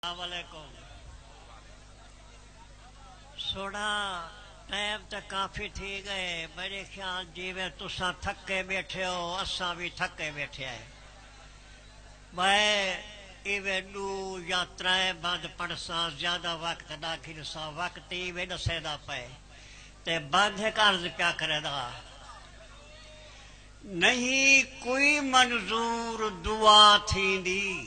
علیکم سوڑا ٹائم تے کافی تھی گئے میرے خیال جیویں تساں تھکے بیٹھے ہو اساں وی تھکے بیٹھے ہیں میں ایویں ڈو یا ترے بند پڑھساں زیادہ وقت نہ گھنساں وقت ایویں ڈسیندا پئے تے بند ہک عرض پیا کریندا ہاں نہیں کوئی منظور دعا تھیندی۔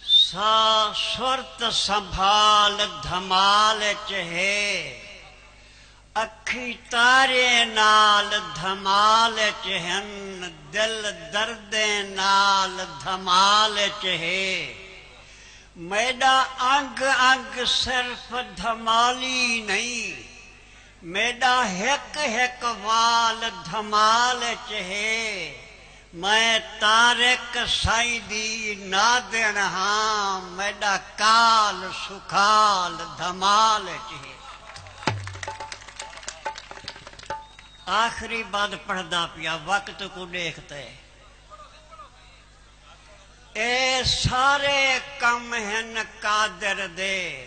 سا سرت سنبھال دھمال اچ ہے اکھیں تاریں نال دھمال اچ ہن دل دردیں نال دھمال اچ ہے میݙا انگ انگ صرف دھمالی نئیں میݙا ہک ہک وال دھمال اچ ہے میں طارق سائیں دی نادݨ ہاں میݙا کال سکھال دھمال اچ ہے آخری بند پڑھدا پیا وقت کوں ݙیکھ تے اے سارے کم ہن قادر دے۔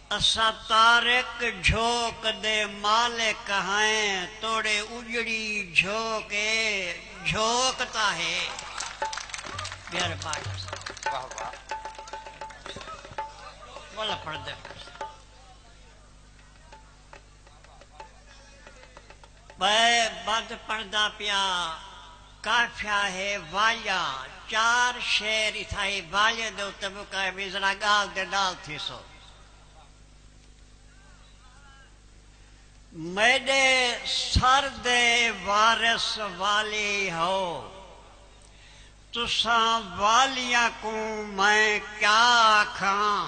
اساں تارک جھوک دے مالک ہئیں توڑے اجڑی جھوک اے جھوک تاں ہے بیارے پاک اساں بئے بدھ پڑھدا پیاں کافیہ ہے والیاں چار شعر اتھائیں والیاں دے اتے مکائے وی ذرا گال دے نال تھیسو میڈے سر دے وارث والی ہو تساں والیاں کوں میں کیا آکھاں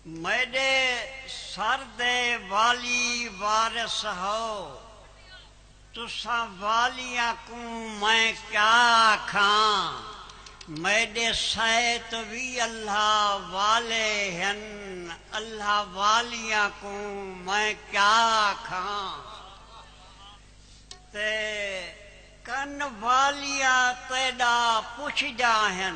میݙے سر دے والی وارث ہو، تساں والیاں کوں میں کیا آکھاں، میݙے سیت وی اللہ والے ہن، اللہ والیاں کوں میں کیا آکھاں تے کن والیاں تیݙا پچھدیاں ہن،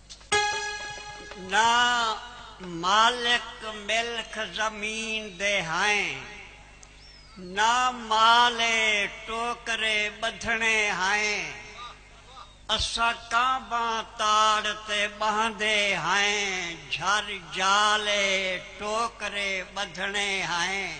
نہ مالک ملک زمین دے ہائیں۔ نہ مال اے ٹوکرے ٻدھݨے ہائیں۔ اساں کانباں تاڑ تے ٻہندے ہائیں جھر جال اے ٹوکرے ٻدھݨے ہائیں۔